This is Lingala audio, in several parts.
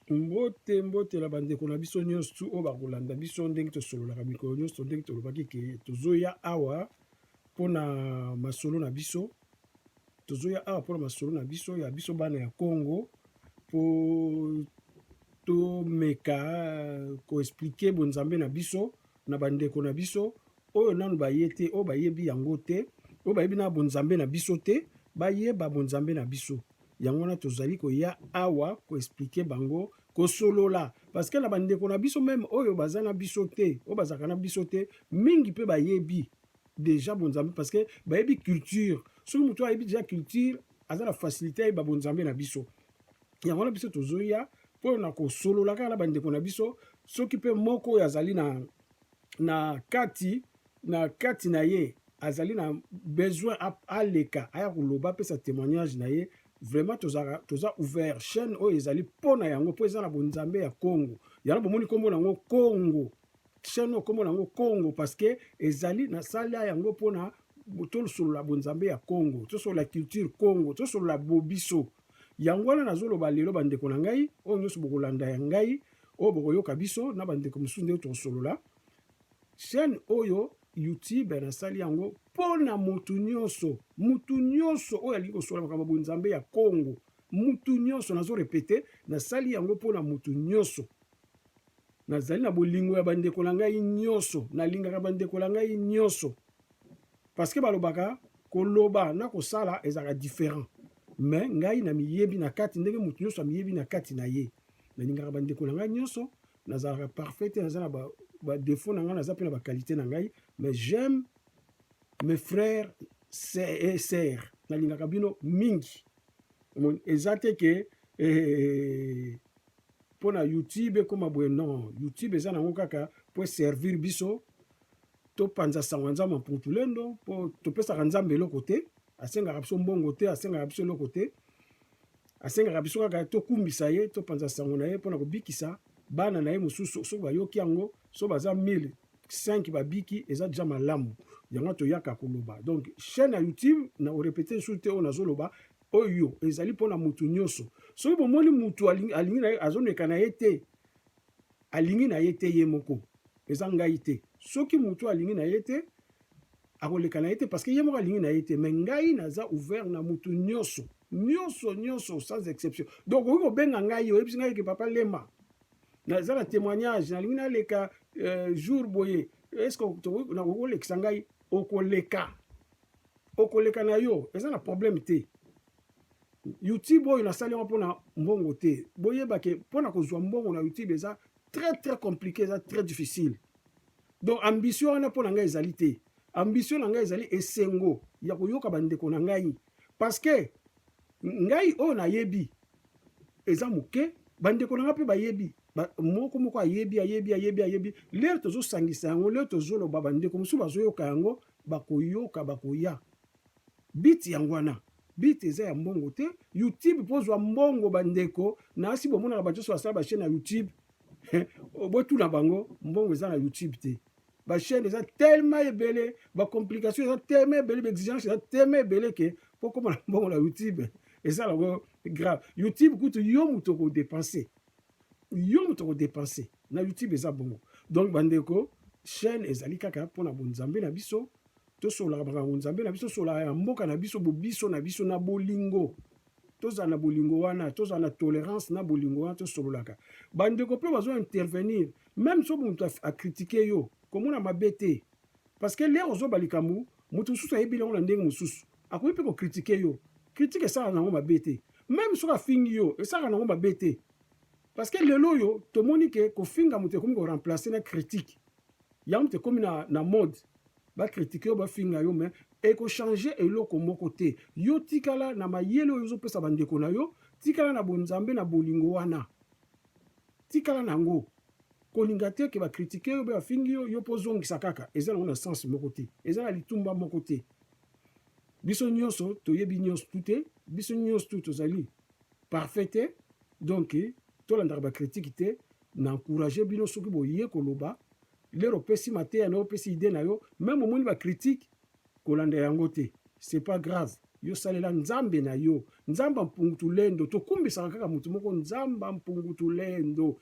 Mbote mbote na bandeko na biso nyonso tu oyo bakolanda biso ndenge tosololaka mikolo nyonso, ndenge tolobaki ke tozoya awa mpo na masolo na biso, tozoya awa mpo na masolo na biso ya biso bana ya Congo mpo tomeka ko expliquer bonzambe na biso. na bandeko na biso oyo nanu baye te, oyo bayebi yango te, oyo bayebi na bonzambe na biso te, bayeba bonzambe na biso. Yango wana tozali koya awa koexplike bango, kosolola parceke na bandeko na biso meme oyo baza na biso te, oyo bazalaka na biso te, mingi mpe bayebi deja bonzambe parceke bayebi culture. Soki moto ayebi deja culture, aza na facilite ayeba bonzambe na biso. yango wana biso tozoya mpo na kosolola kaka na bandeko na biso soki mpe moko oyo azali na, na kati na kati na ye azali na besoin aleka aya koloba apesa témoignage na ye vraiment tozaka toza ouvert chaîne oyo ezali mpo na yango mpo eza na bonzambe ya congo yango bomoni nkombo na yango congo chaîne oyo nkombo na yango Congo parce que ezali nasala yango mpo na tosolola bonzambe ya Congo, tosolola culture Congo, tosolola bobiso. Yango wana nazoloba lelo bandeko na ngai oyo nyonso bokolanda ya ngai oyo bokoyoka biso na bandeko mosusu nde tokosolola chaîne oyo youtube nasali yango mpo na motu nyonso motu nyonso oyo alingi kosolola makambo ya bonzambe ya Congo motu nyonso nazorepete nasali yango mpo na motu nyonso Nazali na bolingo ya bandeko na ngai nyonso, nalingaka bandeko na ngai nyonso, paske balobaka koloba na kosala ezalaka different, mais ngai na miyebi na kati ndenge moto nyonso amiyebi na kati na ye. Nalingaka bandeko na ngai nyonso, nazalaka parfait te, naza na ba, ba défaut na ngai, naza mpe na ba qualité na ngai, mais j'aime mes frères et sœurs, nalingaka bino mingi. Eza te ke eh, pona youtube ekoma boye non youtube eza nango kaka po servir biso topanza sango ya nzambe mputulendo po topesaka nzambe eloko te asengaka biso mbongo te asengaka biso eloko te asengaka biso kaka tokumbisa ye topanza sango na ye mpona kobikisa bana na ye mosusu soki bayoki yango so baza 1000 5 babiki eza deja malamu yango toyaka koloba donc chaîne ya youtube na orepete lisusu te oyo nazoloba Oyo ezali mpo na moto nyonso. Soki bomoni moto alingi na ye, azomeka na ye te, alingi na ye te ye moko, eza ngai te. Soki moto alingi na ye te, akoleka na ye te, parce que ye moko alingi na ye te. Mais ngai naza ouvert na moto nyonso, nyonso, nyonso, sans exception. Donc okoki kobenga ngai, oyebisi ngai ke papa Lema, naza na témoignage, nalingi naleka euh, jour boye, est-ce que nakoki kolekisa ngai? Okoleka. okoleka na yo eza na problème te youtube oyo nasali yango mpona mbongo te boyeba ke mpona kozwa mbongo na youtube eza très très compliqué eza très difficile donc ambition wana mpo na ngai ezali te ambition na ngai ezali esengo ya koyoka bandeko na ngai parce que ngai oyo nayebi eza moke bandeko na ngai mpe bayebi moko moko ayebi ayebi ayebi ayebi lere tozosangisa yango lere tozoloba bandeko mosusu bazoyoka yango Bakoyoka bakoya beat yango wana beat eza ya mbongo te youtube mpo ozwa mbongo bandeko na asi bomonaka bato nyonso basala bachaine ya youtube botuna bango mbongo eza na youtube te bachaine eza telema ebele bacomplication eza telema ebele baexigence eza telema ebele ke mpo koma na mbongo na youtube eza nango grave youtube kutu yo moto okodepense yo moto ko depense na YouTube eza bongo donc bandeko chaîne ezali kaka mpo na bonzambe na biso tosololaka makambo nzambe na biso tosololaka ya mboka na biso bobiso na biso na bolingo tozala na bolingo wana tozala na tolerance na bolingo wana tosololaka bandeko mpe bazo intervenir meme so moto akritike yo komona mabe te parce que lere ozoba likambo moto mosusu ayebi yango na ndenge mosusu akoki mpe ko critiquer yo critique esalaka nango mabe te meme soki afingi yo esalaka nango mabe te parce que lelo oyo tomoni ke kofinga moto ekomi ko remplacer na critique yango moto ekomi na, na mode bakritike yo bafinga yo me ekochange eloko moko te yo tikala na mayele oyo ozopesa bandeko na yo tikala na bonzambe na bolingo wana tikala na yango kolinga te ke bakritike yo mpe bafingi yo yo mpo ozongisa kaka eza nango na sense moko te eza na litumba moko te biso nyonso toyebi nyonso tu te biso nyonso tu tozali parfait te donc tolandaka bakritike te na encourage bino soki boye koloba lero opesi mateya na yo opesi ide na yo meme omoni bakritike kolanda yango te c'est pas grave yo salela nzambe na yo nzambe mpungu tulendo tokumbisaka kaka moto moko nzambe mpungu tulendo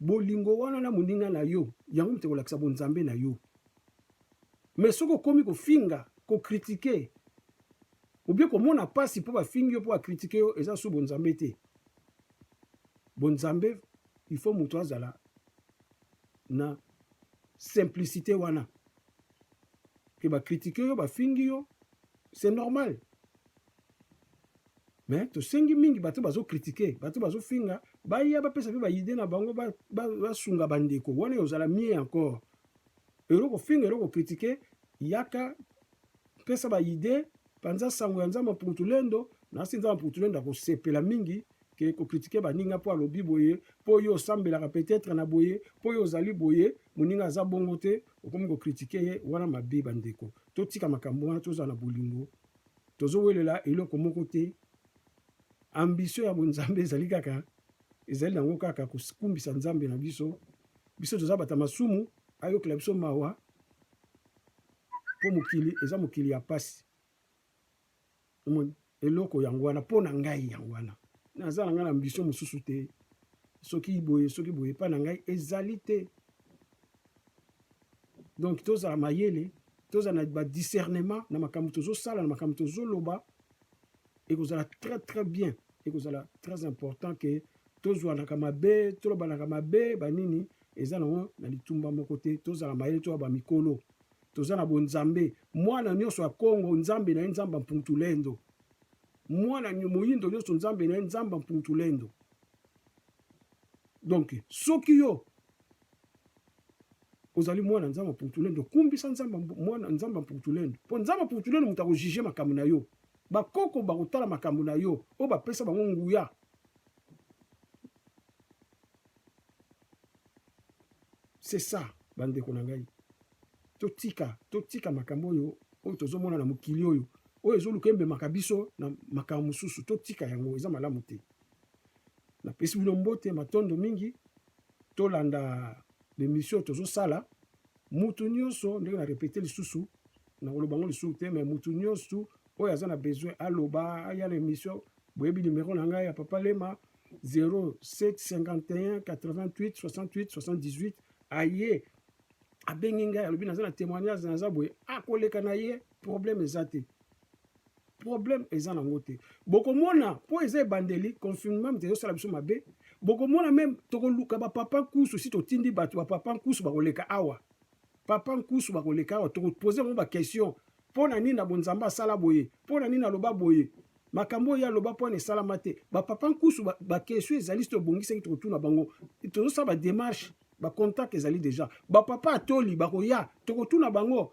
Bolingo wana na moninga na yo, yango moto ekolakisa bonzambe na yo. Mais soki okomi kofinga, kokritike, obie komona mpasi mpo bafingi yo mpo bakritike yo, eza su bonzambe te. Bonzambe, il faut moto azala na simplicité wana. Ke bakritike yo, bafingi yo, c'est normal. Mais tosengi mingi bato bazo critiquer, bato bazo finga, baya bapesa pe ba idee na bango basunga ba bandeko, wana ekozala mieux encore. Elo kofinga, elo kokritike, yaka pesa ba idee, panza sango ya Nzambe Mputulendo, nasi Nzambe Mputulendo akosepela mingi ke kokritike baninga mpo alobi boye, mpo yo osambelaka peut-être na boye, mpo yo ozali boye, moninga aza bongo te, okomi kokritike ye, wana mabe bandeko. Totika makambo wana, tozala na bolingo. tozo welela eloko moko te ambition ya bonzambe ezali kaka ezali nango kaka kokumbisa nzambe na biso biso toza bata masumu ayokela biso mawa mpo mokili eza mokili ya pasi omoni eloko yango wana mpo na ngai yango wana naza na ngai na ambition mosusu te soki boye soki boye epai na ngai ezali te donc tozala mayele tozala na badiscernement na makambo tozosala na makambo tozoloba ekozala très très bien ekozala très important ke tozwanaka mabe tolobanaka mabe banini eza nango na litumba moko te tozala mayele toya bamikolo toza na bonzambe mwana nyonso ya kongo nzambe na ye nzambe mpuntulendo mwana moyindo nyonso nzambe na ye nzambe mpuntulendo donc soki yo ozali mwana nzambe ya mpukutulendu okumbisa nzambe mwana nzambe ya mpukutulendu mpo nzambe ya mpukutulendu moto akojuge makambo na yo bakoko bakotala makambo na yo oyo bapesa bango nguya c'est ça bandeko na ngai totika totika makambo oyo oyo tozomona na mokili oyo oyo ezoluka ememaka biso na makambo mosusu totika yango eza malamu te napesi bino mbote matondo mingi tolanda bemission oyo tozosala mutu nyonso ndenge na repete lisusu nakoloba yango lisusu te mai mutu nyonso oyo aza na besoin aloba aya na émission boyebi nimero na ngai ya papa lema 0751 88 68 78 aye abengi ngai alobi naza na témoignage naza boye akoleka na ye problème eza te problème eza nango te bokomona mpo eza ebandeli confinement moto ezosala biso mabe bokomona meme tokoluka bapapa nkusu si totindi bato bapapa nkusu bakoleka awa papa nkusu bakoleka awa tokopose yango baquestion mpo na nini na bonzambe asala boye mpo na nini aloba boye makambo oyo aloba mpo na esalama te bapapa nkusu bakestion ba ezali soki tobongisaki tokotuna bango tozosala bademarche bacontact ezali deja bapapa atoli bakoya tokotuna bango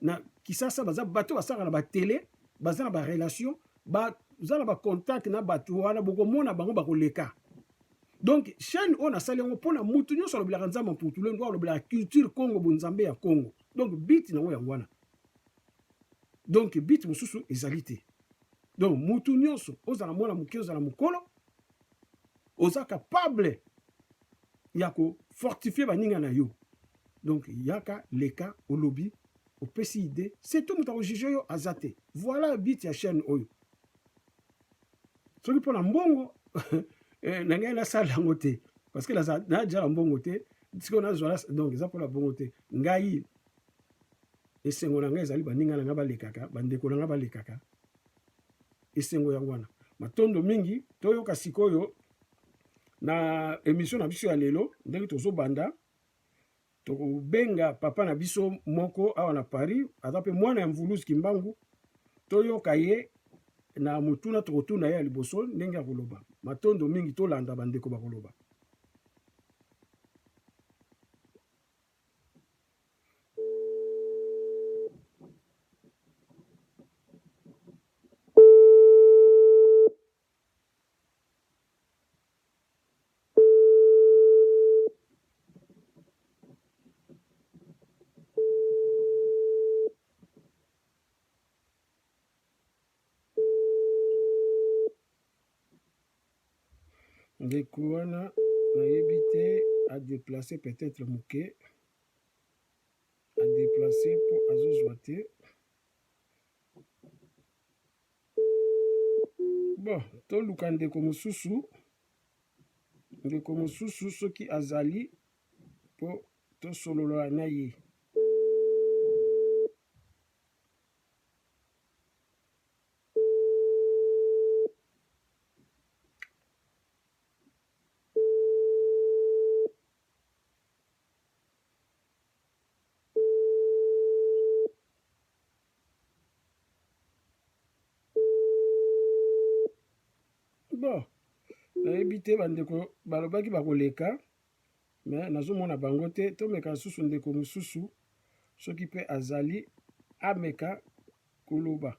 na kisasa baza bato basaka na batele baza na barelation baza na bacontact na bato wana bokomona bango bakoleka donc chaîne oyo nasali yango mpona motu nyonso alobelaka nzambe mputule ndo alobelaka culture congo bonzambe ya congo donc bit nango yango wana donc bit mosusu ezali te donc motu nyonso ozala mwana moke ozala mokolo oza capable ya ko fortifier baninga na yo donc yaka leka olobi opesi idée c'est tout moto akojuge yo aza te voilà but ya chaîne oyo soki mpo na mbongo eh, na ngai nasala yango te parce que najala mbongo te sikoyo nazwala donc eza mpo na bongo te ngai esengo na ngai ezali baninga na ngai balekaka bandeko na ngai balekaka esengo yango wana matondo mingi toyoka sikoyo na emission na biso ya lelo ndenge tozobanda tokobenga papa na biso moko awa na paris aza mpe mwana ya mvuluzi kimbangu toyoka ye na motuna tokotuna ye ya liboso ndenge ya koloba matondo mingi tolanda bandeko bakoloba ndeko wana nayebi te adeplace peut-être moke adeplace mpo azozwa te Bon, toluka ndeko mosusu, ndeko mosusu soki azali mpo tosolola na ye. bon nayebi te bandeko balobaki bakoleka me nazomona bango te tomeka lisusu ndeko mosusu soki mpe azali ameka koloba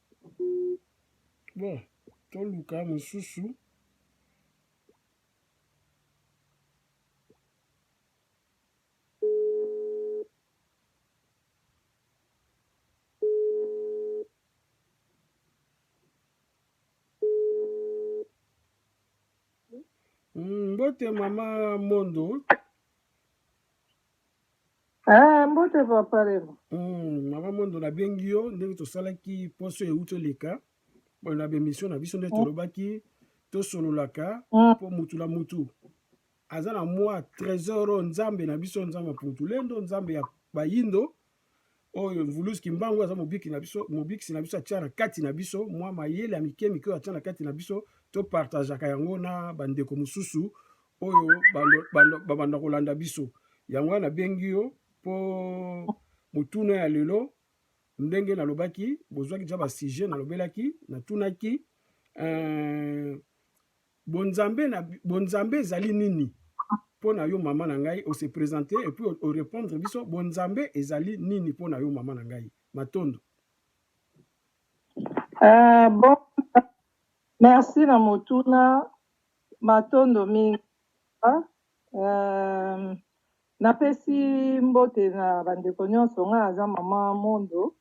bon toluka mosusu mbote hmm, mama mondo Ah, mbote papa Remo. Mm, mama Mondo nabengi yo ndenge tosalaki poso euti eleka na bemission na biso nde tolobaki tosololaka mpo mutu na mutu aza na mwa tresor oyo nzambe na biso nzambe ya puntulendo nzambe ya bayindo oyo Mvulus Kimbangu aza mobiki na biso, mobikisi na biso atia na kati na biso mwa mayele ya mike mike oyo atia na kati na biso, topartageaka yango na bandeko mosusu oyo babanda kolanda biso. Yango wana nabengi yo mpo motuna ya lelo, ndenge nalobaki, bozwaki deja basujet nalobelaki, natunaki euh, Bonzambe na bonzambe ezali nini pona yo mama na ngai ose presente epuis o repondre biso bonzambe ezali nini pona yo mama na ngai matondo. Uh, bon, merci na motuna matondo mingi uh, napesi mbote na bandeko nyonso ngai aza mama mondo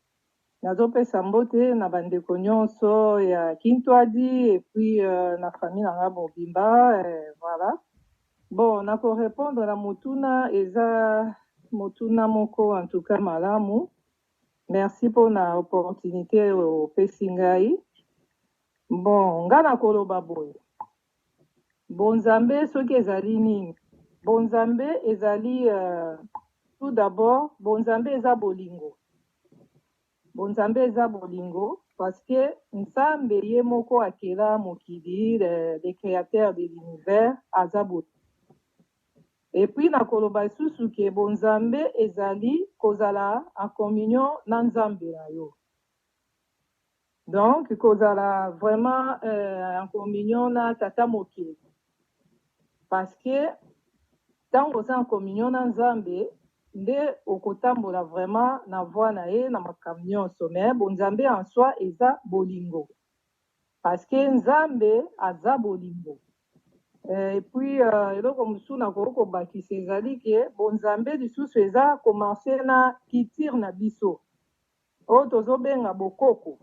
Nazo pesa mbote na ba ndeko nionso ya kintwadi et puis na famille na nga mobimba voilà bon na ko repondre na motuna eza motuna moko en tout cas malamu merci pona opportunite opesi ngai bon nga na koloba boye Bonzambe soki ezali nini? Bonzambe ezali tout d'abord bonzambe eza bolingo bonzambe eza bolingo parce que nzambe ye moko akela mokili le createur de l'univers aza bolingo et puis na koloba lisusu ke bonzambe ezali kozala en communion na nzambe na yo Donc kozala vraiment euh, en communion na tata mokeli parce que ntango oza en communion na Nzambe nde okotambola vraiment na voie na ye na makambo nyonso mais bonzambe en soi eza bolingo parce que Nzambe aza bolingo euh, et puis euh, eloko mosusu nakoki kobakisa ezali ke bonzambe lisusu eza komarche na culture na biso Oyo tozo benga bokoko.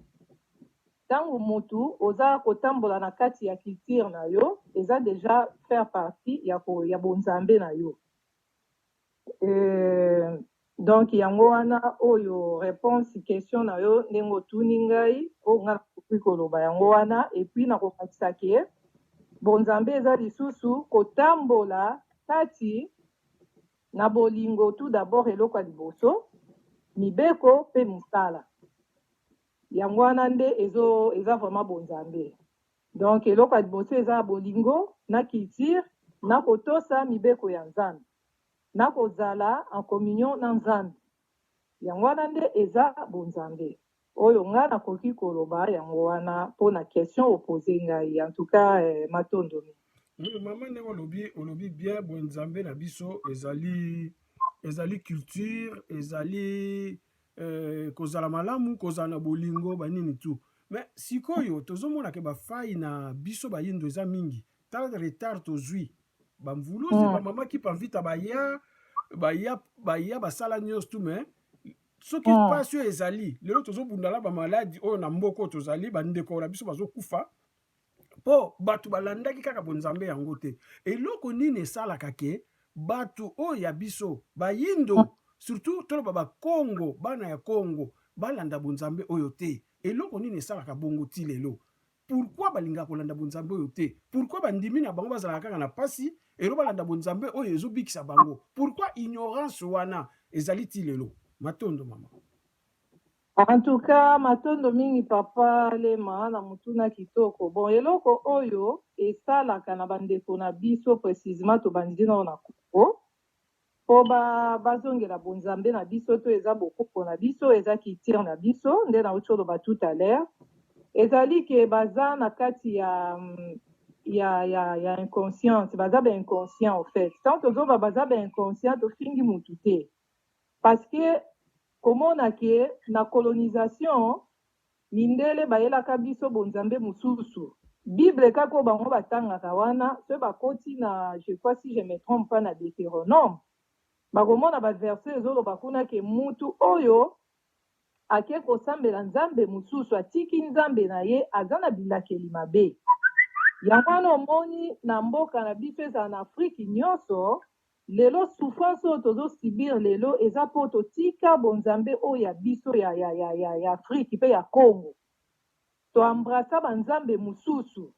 Tango mutu oza kotambola na kati ya culture na yo eza dejà faire partie ya ko ya bo nzambe na yo euh donc yango wana oyo reponse question na yo ndenge otuni ngai oyo ngai na koki koloba yango wana et puis na ko bakisa ke bo nzambe eza lisusu kotambola kati Na bolingo tout d'abord eloko ya liboso mibeko pe musala yango wana nde ezo eza vraiment bonzambe donc eloko ya liboso eza bolingo na culture na kotosa mibeko ya nzambe na kozala en communion na nzambe Yango wana nde eza bonzambe. Oyo nga nakoki koloba yango wana pona question o poser ngai. En tout cas eh, matondo mingi. Oui maman ndenge olobi olobi bien bo nzambe na biso ezali ezali culture ezali euh, kozala malamu kozala na bolingo banini tout mais sikoyo tozomona ke bafai na biso bayindo eza mingi Tala retard tozui ba mvuluzi mm. ba mama ki panvita baya baya baya basala nyonso tu mais soki mm. mpasi oyo ezali lelo tozobundala bamaladi oyo na mboka oyo tozali bandeko na biso bazokufa mpo bato balandaki kaka bonzambe yango te eloko nini esalaka ke bato oyo ya biso bayindo mm. surtout toloba bakongo bana ya kongo balanda bonzambe oyo te eloko nini esalaka bongo ti lelo Pourquoi balingaka kolanda bonzambe oyo te? Pourquoi bandimi na bango bazalaka kaka na pasi elo balanda bonzambe oyo ezobikisa bango? Pourquoi ignorance wana ezali ti lelo? Matondo mama. En tout cas, matondo mingi papa Lema na mutuna kitoko. Bon, eloko oyo esalaka na bandeko na biso precisement tobandi nao na Congo. Po ba bazongela bonzambe na biso to eza bokoko na biso eza culture na biso nde nauti koloba tout à l'heure ezali que baza na kati ya ya ya ya inconsciente baza ba inconscient au faite tango tozoloba baza ba inconscient tofingi mutu te parce que komona que na colonisation Mindele bayelaka biso bonzambe mususu. Bible kaka oyo bango batangaka wana soki bakoti na je crois si je me trompe pas na Deuteronome bakomona ba verset ezoloba kuna ke mutu oyo ake kosambela nzambe mususu atiki nzambe na ye aza na bilakeli mabe. Yango wana omoni na mboka na biso ezala na Afrique nyoso Lelo souffrance oyo tozo subir lelo eza po totika bonzambe oyo ya biso ya ya ya ya ya Afrique pe ya Congo to embrassa ba nzambe mususu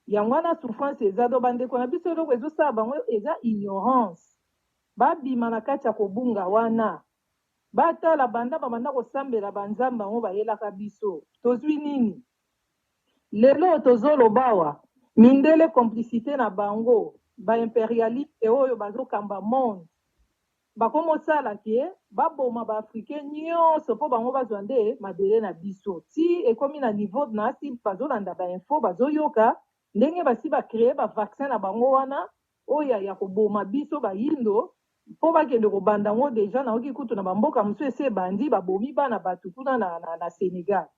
yango wana souffrance eza donc ba ndeko na biso eloko ezo sala bango eza ignorance ba bima na kati ya kobunga wana ba tala banda ba banda kosambela ba nzambe yango ba yelaka biso tozui nini? Lelo tozo lobawa mindele complicite na bango ba imperialiste oyo bazo kamba monde bakomo sala ke ba boma ba africain nioso po bango bazwa nde mabele na biso ti ekomi na niveau nasi bazo landa ba info bazo yoka ndenge basi ba cree ba vaccin na bango wana oya yako boma biso ba yindo po bakende ko banda ngo deja nayoki kutu na ba mboka mususu esi ebandi ba bomi bana batu kuna na na Senegal.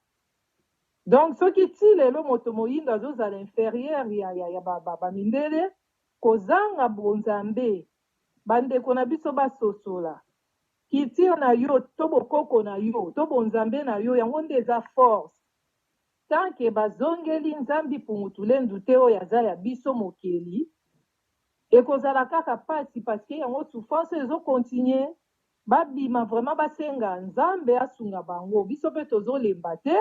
Donc soki tii lelo moto moyindo azo zala inferieur ya ya ya ba ba mindele kozanga bo nzambe ba ndeko na biso ba sosola culture na yo to bokoko na yo to bo nzambe na yo yango nde eza force tant que ba zongeli nzambi pumutulendu te oyo aza ya biso mokeli ekozala kaka pasi parce que yango souffrance ezo continuer Ba bima vraiment ba senga nzambe asunga bango biso pe tozo lemba te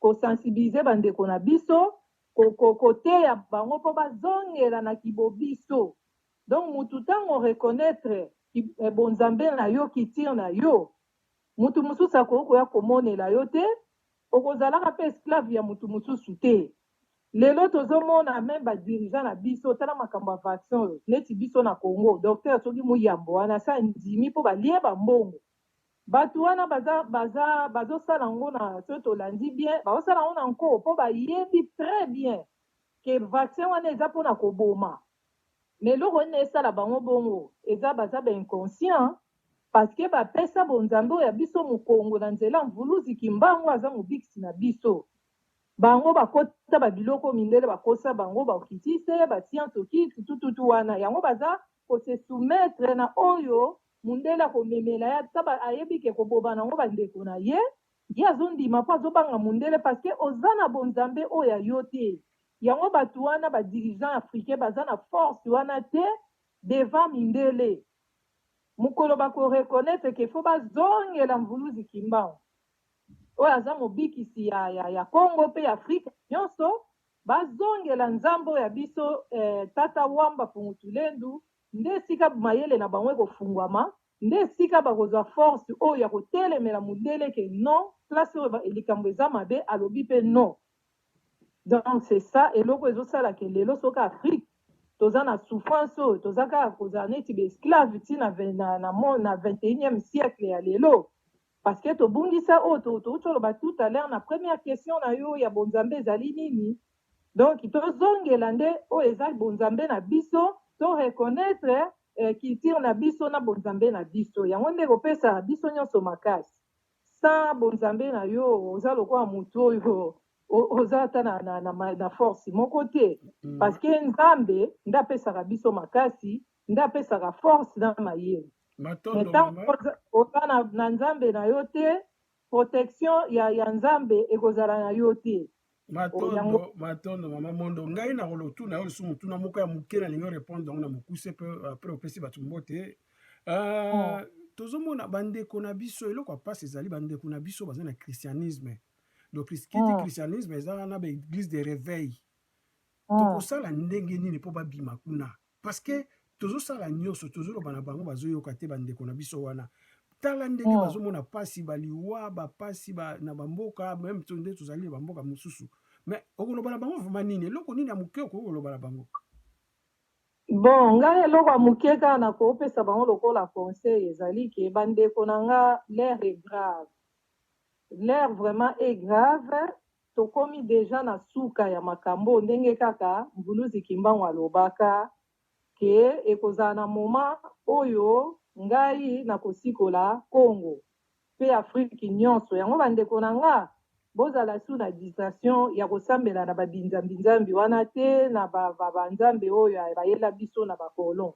ko sensibiliser ba ndeko na biso ko teya bango po ba zongela na ki bobiso donc mutu tango o reconnaitre ki bo nzambe na yo kitir na yo mutu mususu akoki koya ko monela yo te oko zalaka pe esclave ya mutu mususu te. Lelo tozo mona meme ba dirigeants na biso tala makambo ya vaccin oyo neti biso na Congo docteur soki muyambo wana asi andimi po balie ba mbongo batu wana baza baza bazo sala yango na soki tolandi bien bazo sala yango na nko po bayebi tres bien que vaccin wana eza pona koboma mais eloko nini esala bango bongo eza baza ba inconscient parce que ba pesa bo nzambe oyo ya biso mukongo na nzela ya mvuluzi kimbangu aza mobikisi na biso Bango bakota ba biloko mindele bakosa bango ba okitiste ba siantoki tutututu wana yango baza ko se soumettre na oyo mundele ako memela ye ata ba ayebi ke eko boma nango ba ndeko na ye ye azo ndima po azo banga mundele parce que oza na bo nzambe oyo ya yo te yango batu wana ba dirigeants africains baza na force wana te devant mindele mukolo bako reconnaitre ke faut ba zongela mvuluzi kimbangu. Oyo aza mobikisi ya ya ya Congo pe ya Afrique nionso bazongela nzambe oyo ya biso eh tata wamba fungu tulendu nde esika mayele na bango ekofunguama nde esika bakozua force oyo ya kotelemela mundele ke non place oyo likambo eza mabe alobi pe non donc c'est ça eloko ezosala ke lelo soki Afrique toza na souffrance oyo toza kaka kozala neti ba esclave ti na na na 21 siècle ya lelo Parce que tobungisa oyo touti koloba tout à l'heure na première question na yo ya bonzambe ezali nini? Donc tozongela nde oyo eza bonzambe na biso, to reconnaitre culture na biso na bonzambe na biso. Yango nde ekopesa biso nionso makasi. Sans bonzambe na yo oza lokola mutu oyo oza ata na, na, na, na force moko te parce que nzambe nde apesaka biso makasi nde apesaka force na mayele mais tango oza na, na nzambe na yo te protection ya, ya nzambe ekozala na yo te matondo matondo mama mondo ngai na kolotuna yo lisusu motuna moko ya moke nalingi orepondre yango na mokuse mpe apres opesi bato mbote euh, oh. tozomona bandeko na biso eloko ya mpasi ezali bandeko na biso baza na christianisme donc kiti oh. christianisme eza na baeglise de réveil oh. tokosala ndenge nini mpo babima kuna parce que tozosala nyonso tozoloba na bango bazoyoka te bandeko na biso wana tala ndenge oh. bazomona mpasi baliwa bapasi ba, na bamboka meme to nde tozali na bamboka mosusu mais okoloba na bango vraimen nini eloko nini ya moke okoki koloba na bango bon ngai eloko ya moke kaka nakopesa bango lokola conseil ezali ke bandeko na nga l'air est grave l'air vraiment est grave Tokomi dejà na suka ya makamboo ndenge kaka Mvuluzi Kimbangu alobaka que ekozala na moment oyo ngai nakosikola Congo pe Afrique nionso. Yango ba ndeko na nga bozala sous na distraction ya kosambela na ba binzambi nzambi wana te na ba ba nzambe oyo ya bayela biso na ba colon.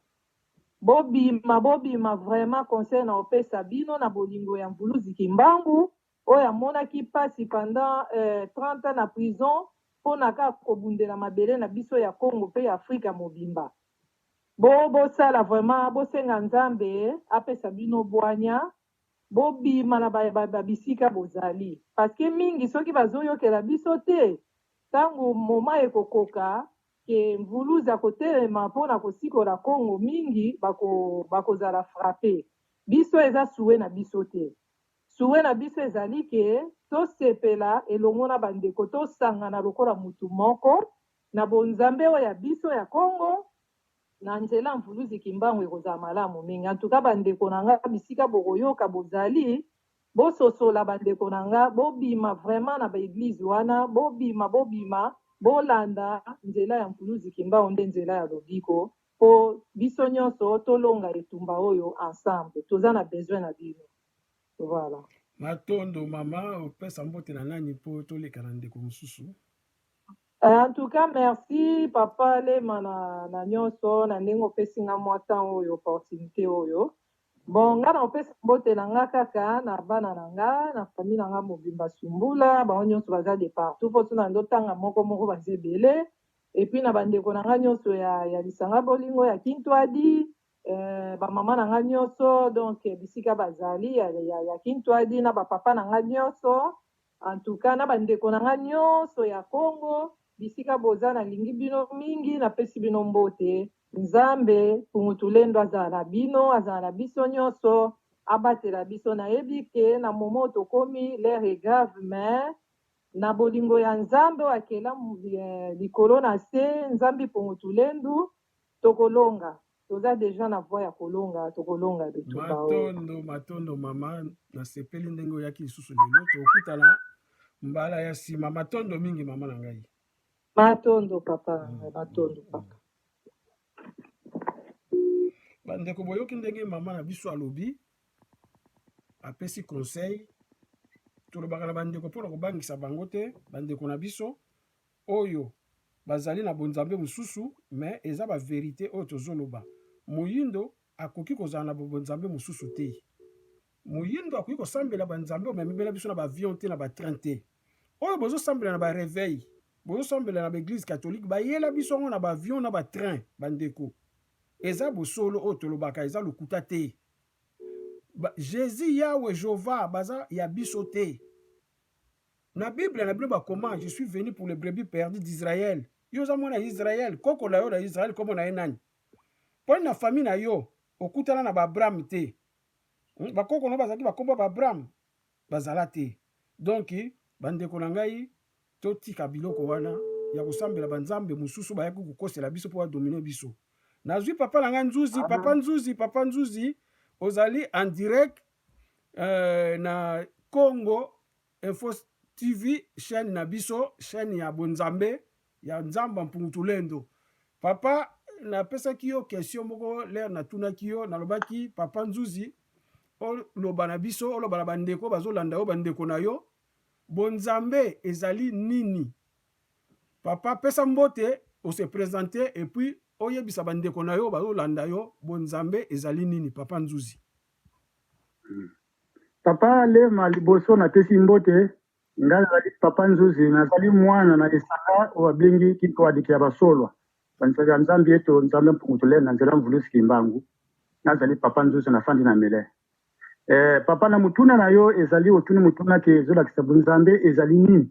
Bobima bobima vraiment conseil na opesa bino na bolingo ya Mvuluzi Kimbangu Oyo amonaki pasi pendant 30 ans na prison pona kaka kobundela mabele na biso ya Congo pe ya Africa mobimba. Bo bosala vraiment bosenga Nzambe apesa bino bwanya bobima na ba bisika bozali parce que mingi soki bazoyokela biso te tango moment ekokoka que Mvuluzi akotelema pona kosikola Congo mingi bako bakozala frapper. Biso eza souhait na biso te. Souhait na biso ezali que tosepela elongo na ba ndeko, tosangana lokola mutu moko na bonzambe oyo ya biso ya Congo, na nzela ya Mvuluzi Kimbangu ekozala malamu mingi. En tout cas ba ndeko na nga bisika bokoyoka bozali, bososola ba ndeko na nga, bobima vraiment na ba eglises wana, bobima, bobima, bolanda nzela ya Mvuluzi Kimbangu nde nzela ya lobiko po biso nionso tolonga etumba oyo ensemble. Toza na besoin na bino. Voilà. Matondo mama, opesa mbote na nani mpo toleka na ndeko mosusu? Euh, en tout cas, merci papa Lema na, na nyonso na ndenge opesi nga mwa temps oyo opportunité oyo. Bon, nga na opesa mbote na nga kaka na bana na nga na famille na nga mobimba Sumbula, bango nyonso baza de partout mpo tuna ndo tanga moko moko baza ebele. Et puis na bandeko na nga nyonso ya, ya lisanga bolingo ya Kintuadi, Euh, ba mama na nga nioso donc bisika bazali ya, ya, ya Kintwadi na ba papa na nga nioso en tout cas na ba ndeko na nga nioso ya Congo bisika boza na lingi bino mingi na pesi bino mbote Nzambe Kungutulendo azala na bino azala na biso nioso abatela biso na yebi ke na moment tokomi l'air est grave mais na bolingo ya Nzambe oyo akela eh, likolo na se Nzambe Kungutulendu Tokolonga toza dejà na voie ya kolonga tokolonga de tout bao. Matondo matondo mama nasepeli ndenge oyaki lisusu lelo tokutana mbala ya nsima matondo mingi mama na ngai. Matondo papa na ngai matondo papa. Bandeko boyoki ndenge mama na biso alobi apesi conseil tolobaka na bandeko mpo na kobangisa bango te bandeko na biso Oyo bazali na bonzambe mosusu mais eza ba verite oyo tozo loba moyindo akoki kozala na ba bonzambe mosusu te moyindo akoki kosambela ba nzambe oyo mais amibela biso na ba avion te na ba train te oyo bozo sambela na ba reveil bozo sambela na ba eglise catholique bayela biso yango na ba avion na ba train ba ndeko eza bosolo oyo tolobaka eza lokuta te ba, Jesus yawe jova baza ya biso te Na Bible na bino bakoma je suis venu pour le brebis perdu d'Israël. Yo oza mwana ya Israël, koko na yo na Israël kombo na ye nani? Poni na famille na yo okutana na ba Abraham te. Hmm, bakoko na yo bazalaki bakombo ya ba Abraham? Bazala te. Donc bandeko na ngai totika biloko wana ya kosambela banzambe mosusu bayaki kokosela biso mpo badomine biso. Nazwi papa na ngai Nzuzi, papa Nzuzi, papa Nzuzi, ozali en direct euh, na Congo Infos TV chaine na biso chaine ya bonzambe ya nzamba mpungu tulendo papa na pesaki yo question moko lere na tunaki yo na lobaki papa nzuzi oloba na biso oloba na bandeko bazolanda yo bandeko na yo bonzambe ezali nini papa pesa mbote ose presente epuis oyebisa bandeko na yo bazolanda yo bonzambe ezali nini papa nzuzi hmm. Papa Lema liboso na pesi mbote, ngai nazali Papa Nzuzi, nazali mwana na esanga oyo babengi Kintuadiki ya Basolwa, banisaki ya Nzambi Eto, Nzambe Mpungu Tulele na nzela Mvuluzi Kimbangu, nazali Papa Nzuzi na fandi na Mele. Eh, papa na mutuna na yo ezali otuni mutuna ke ezolakisa bunzambe ezali nini?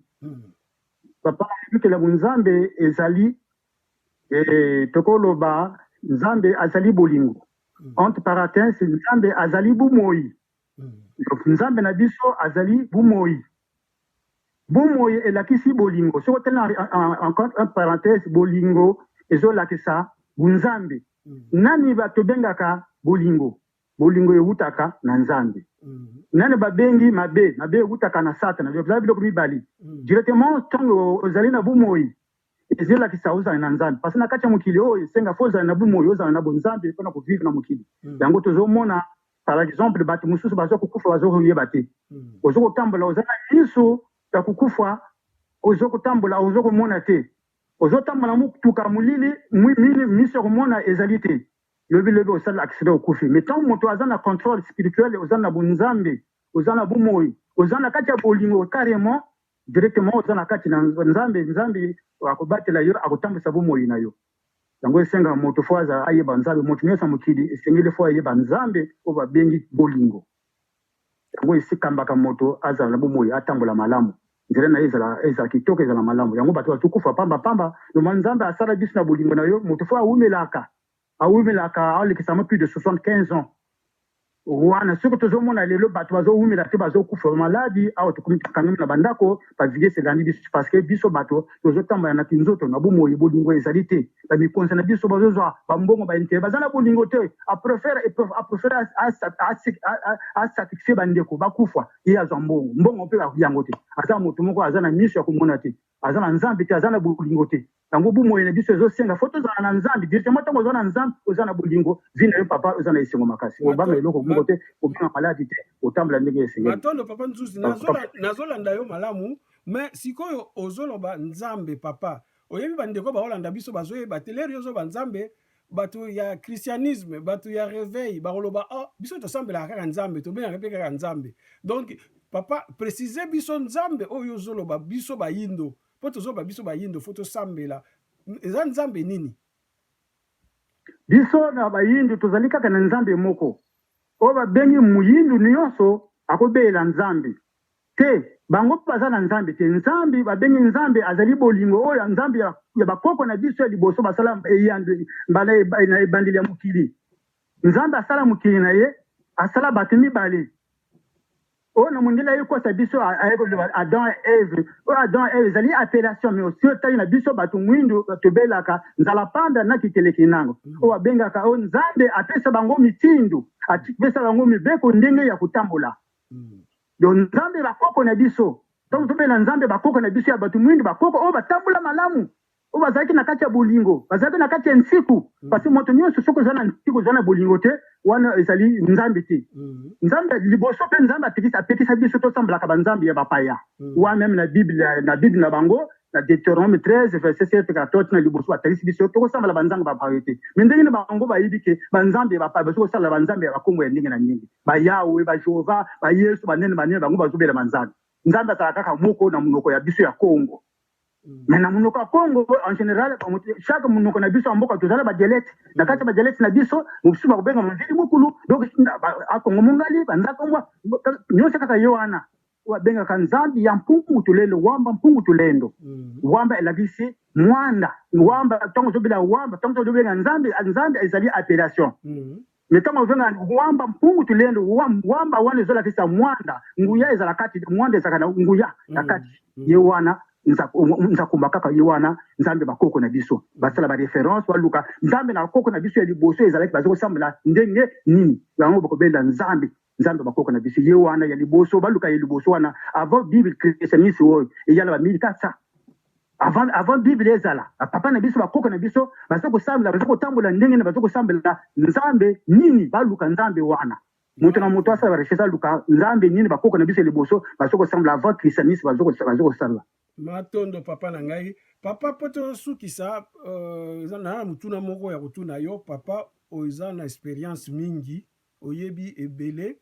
Papa na libikela bunzambe ezali Ee, tokoloba, Nzambe azali bolingo. Ant paratens, Nzambe azali bomoi. Donc, Nzambe na biso azali bomoi. Bomoi elakisi bolingo. Soki otali na en- en- en- ant ant parenthèse, bolingo ezolakisa bonzambe. Nani ba- tobengaka bolingo? Bolingo ewutaka na Nzambe. Nani babengi mabe? Mabe ewutaka na Satana. Donc, eza biloko mibale. Directement, ntango ozali na bomoi, Ezo lakisa ozala na nzambe parce na kati ya mokili oyo esenga faut ozala na bu moyi ozala na bo nzambe pona ko vivre na mokili yango tozo mona par exemple batu mususu bazo ko kufa bazo ko yeba te ozo ko tambola oza na misu ya ko kufa ozo ko tambola ozo ko mona te ozo tambola mutuka molili misu ya ko mona ezali te lobi lobi osala accident okufi mais tant moto aza na controle spirituel oza na bo nzambe oza na bu moyi oza na kati ya bolingo carrement directement oza na kati na nzambe nzambe akobatela yo akotambwisa bomoi na yo yango esenga moto fo aza ayeba nzambe moto nyonso ya mokili esengeli fo ayeba nzambe oyo babengi bolingo yango esikambaka moto azala na bomoi atambola malamu nzela na ye ezala ezala kitoko ezala malamu yango bato bazokufa pamba pamba noma nzambe asala biso na bolingo na yo moto fo awumelaka Bawumelaka alekisa yango plus de 75 ans wana soki tozomona lelo bato bazowumela te bazokufa bamaladi awa tokomi tokangami na bandako baviese elandi biso parceke biso bato tozotambola na kinzoto na bomoi bolingo ezali te bamikonzi na biso bazozwa bambongo baintere baza na bolingo te aprefere aprefere asatisfie bandeko bakufa ye azwa mbongo mbongo mpe yango te aza moto moko aza na miso ya komona te Aza na nzambe te, aza na bolingo te. Yango bumoyi na biso ezo senga faut tozala na nzambe directement tango oza na nzambe oza na bolingo vie na yo papa oza na esengo makasi obanga eloko moko te obanga maladi te otambola ndenge esengeli. Matondo papa Nzuzi nazolanda yo malamu mais sikoyo ozoloba nzambe papa oyebi bandeko baolanda biso bazoyeba te lere yo ozoba nzambe bato ya christianisme bato ya reveil bakoloba oh, biso tosambelaka kaka nzambe tobengaka mpe kaka nzambe donc papa précise biso nzambe oyo ozoloba biso bayindo mpo tozoloba biso bayindo fo tosambela eza nzambe nini biso na bayindo tozali kaka na nzambe moko oyo babengi moyindu nyonso akobelela nzambe Te, bango baza na Nzambe te. Nzambe babengi Nzambe azali bolingo, oyo Nzambe ya, ya bakoko na biso ya liboso basala eyandwe mbala eba, na ebandeli ya mokili. Nzambe asala mokili na ye, asala bato mibale. Oyo na mondele aye kosa biso, aye koloba Adam et Eve. Oyo Adam et Eve ezali appellation, mais osi otali na biso bato mwindu tobelaka nzala panda na kikeleki nango. Oyo abengaka oyo Nzambe apesa bango mitindo, apesa bango mibeko ndenge ya kotambola. Yo Nzambe ba koko na biso. Tango tobela Nzambe ba koko na biso ya batu muindu ba koko oyo ba tambola malamu, oyo bazalaki na kati ya bolingo, bazalaki na kati ya nsiku, parce que moto nionso soki oza na nsiku oza na bolingo te wana ezali Nzambe te. Nzambe ya liboso pe Nzambe apekisa biso tosamblaka ba Nzambe ya ba paya. Wa meme na Bible na Bible na bango Na Deuteronome 13 verset 7 kala toki na liboso batalisi biso tokosambala banzambe ba bayo te. Mais ndenge na bango bayebi ke banzambe ba bazo kosala banzambe ya bakombo ya ndenge na ndenge. Ba Yahweh, ba Jehovah, ba Yesu, ba nene ba nene bango bazo bela banzambe. Nzambe azala kaka moko na monoko ya biso ya Congo. Mais na monoko ya Congo en general chaque monoko na biso ya mboka toza na ba dialecte. Na kati ya ba dialecte na biso mosusu bakobenga mvili mukulu donc a Congo mongali, ba nzakombwa nionso kaka ye wana. oyo babengaka nzambi ya mpungu tulendo wamba mpungu tulendo mm. wamba elakisi mwanda wamba ntango ozobela wamba ntango ozobenga nzambi nzambi ezali appellation mm. me ntango obenga wamba mpungu tulendo wamba wana ezolakisa mwanda nguya ezala kati mwanda ezalaka na nguya na mm. kati mm. ye wana nzakumba kaka ye wana nzambe bakoko na biso basala bareference baluka nzambe na bakoko na biso ya liboso ezalaki baza kosambela ndenge nini yango bakobenda nzambe Nzambe ya ba koko na biso ye wana ya liboso baluka ye liboso wana avant bible christianisme oyo eya na ba 1400 avant avant bible ezala papa na biso ba koko na biso bazo ko sambela bazo ko tambola ndenge na bazo ko sambela Nzambe nini baluka Nzambe wana moto na moto asala ba recherche aluka Nzambe nini ba koko na biso liboso bazo ko sambela avant christianisme bazo ko bazo ko sala matondo papa na ngai papa po to sukisa euh, na mutuna moko ya kutuna yo papa oza na experience mingi Oyebi ebele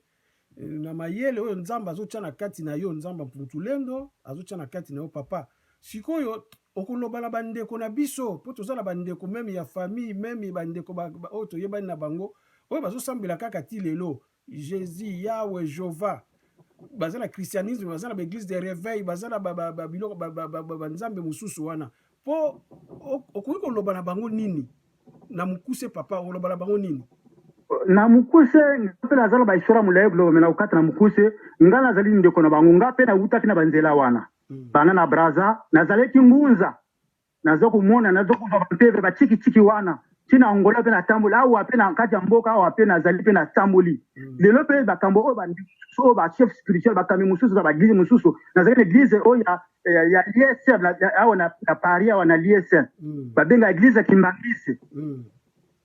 na mayele oyo Nzambe azotia na kati na yo, Nzambe Mpuntulendo azotia na kati na yo papa. Sikoyo okoloba na bandeko na biso, mpo toza na bandeko meme ya famille meme bandeko ba, ba, oyo toyebani na bango oyo bazosambela kaka ti lelo Jésus Yahweh Jova baza na christianisme, baza na baeglise de reveil, baza na babiloko banzambe mosusu wana Po okoki koloba na bango nini na mukuse papa, oloba na bango nini? na mukuse mpe naza na bahistoire molai biloba me nakokata na mukuse ngai nazali ndeko na bango ngai mpe nawutaki na banzela wana hmm. bana na braza nazalaki ngunza naza komona naza kozwa banteve batikitiki wana ntina angola mpe natamboli awa mpe na kati ya mboka awa mpe nazali mpe natamboli hmm. lelo mpe makambo oyo bandeko oyo bachef spirituel bakambi mosusu na baeglize mosusu nazali na eglize oyo ya ya, ya l'ISM na- ya- awa na, na Paris awa na l'ISM Mm. babenga eglise ya Kimbangiste Mm.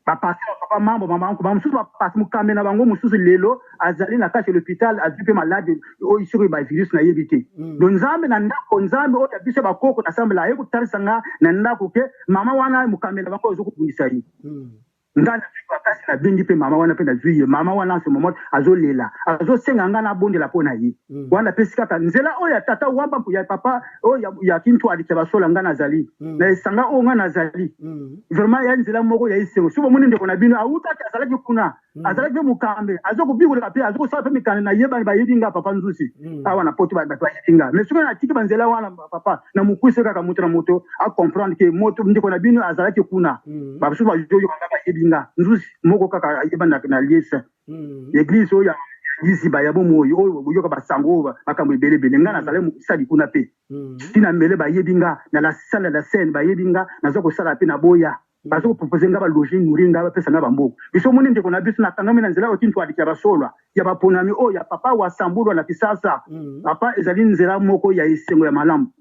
bapase ya papa mambo mamanko bamosusu bapase mokambi na bango mosusu lelo azali na kati ya lopital azwi mpe maladi oyo soki bavirus nayebi te Mm. do nzambe na ndako nzambe oyo ya biso ya bakoko nasambela aye kotalisa nga na ndako ke mama wana mokambi na bango oyo ozokobundisa ye Mm. Nga na zui makasi na bengi pe mama wana pe na zui ye mama wana en ce moment azo lela azo senga nga na bondela po na ye mm. wana na pesi kaka nzela oyo ya tata wamba mpo ya papa oyo ya, ya kintu alikia basola nga na zali mm. na esanga oyo nga na zali mm. vraiment ya nzela moko ya esengo soki bomoni ndeko na bino awutaki azalaki kuna mm. azalaki pe mokambe azo kobikolaka pe azo kosala pe mikanda na yebani bayebi nga papa nzusi mm. awa na poto bato bayebi nga mais soki na tiki banzela wana Ba papa na mukuse kaka moto na moto a comprendre que moto ndeko na bino azalaki kuna mm. ba basusu bazoyo kanga bayebi nga nzuzi moko kaka ayeba na, na liese mm. eglise oyo ya liziba ya bomoi oyo boyoka basango oyo makambo ebele ebele ngai nazali mm. mosali kuna mpe mm. tina mele bayebi nga na la salle la scène bayebi nga naza kosala mpe na boya Bazo proposer nga ba loger nourrir nga bapesa nga ba mbongo. Biso omoni ndeko na biso nakangami na nzela oyo ti ntualiki ya ba soloa ya ba ponami oyo ya papa wasambulua na kisasa. Papa ezali nzela moko ya esengo ya malamu.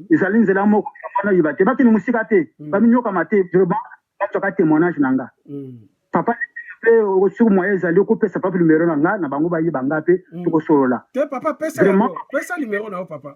Ezali nzela moko ya muana ayeba te bakende mosika te ba miniokama te vraiment bazuaka temoignage na nga papa pe soki moyen ezali okopesa papa numero na nga na bango bayeba nga pe tokosolola. Te papa pesa yango pesa numero na yo papa.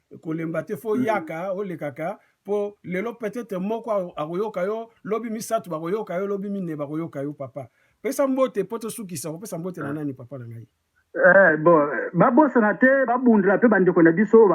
kolemba te fo yaka olekaka po lelo peut-être moko akoyoka yo lobi misato bakoyoka yo lobi mine bakoyoka yo papa pesa mbote po tosukisa kopesa mbote na ah. nani papa na ngai Eh, bon babosana te babundela mpe bandeko na biso oyo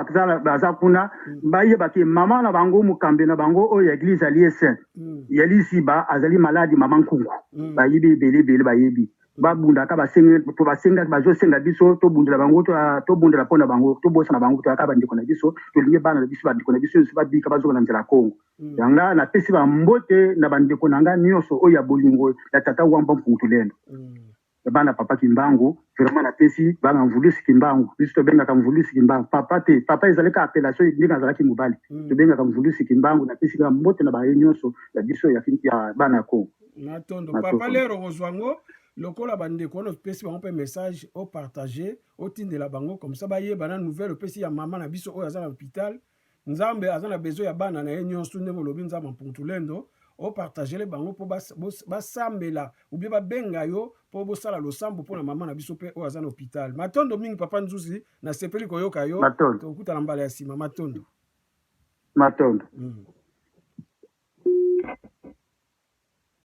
baza kuna mm. bayeba ke mama na bango mokambi na bango oyo ya eglise alie saint mm. ya lisiba azali maladi mama nkungu mm. bayebi ebele ebele bayebi ba bundaka ba sengi to ba senga ba zo senga biso to bundela bango to to bundela pona bango to bosa na bango to aka bandi kona biso to lingi bana na biso bandi kona biso nso ba bika ba zo na nzela Congo mm. yanga na pesi ba mbote na bandi kona nga nyoso o ya bolingo ya tata wamba mpungu tulendo mm. bana papa kimbangu vraiment na pesi bana mvulusi kimbangu biso to benga ka mvulusi kimbangu papa te papa ezali ka appellation ndenge azalaki mobali mm. to benga ka mvulusi kimbangu na pesi ba mbote na ba nyoso ya biso ya bana Congo matondo papa lero okozwa yango lokola bandeko wana opesi bango mpe message opartage otindela bango komsa bayeba na nouvelle opesi ya mama na biso oyo aza na hôpital nzambe aza na besoin ya bana na ye nyonso ndenge olobi nzambe mpuntulendo opartagele bango mpo basambela ubie babenga yo mpo bosala losambo mpo na mama na biso mpe oyo aza na hôpital matondo mingi papa nzuzi nasepeli koyoka yo tokutana mbala ya nsima matondo matondo mm.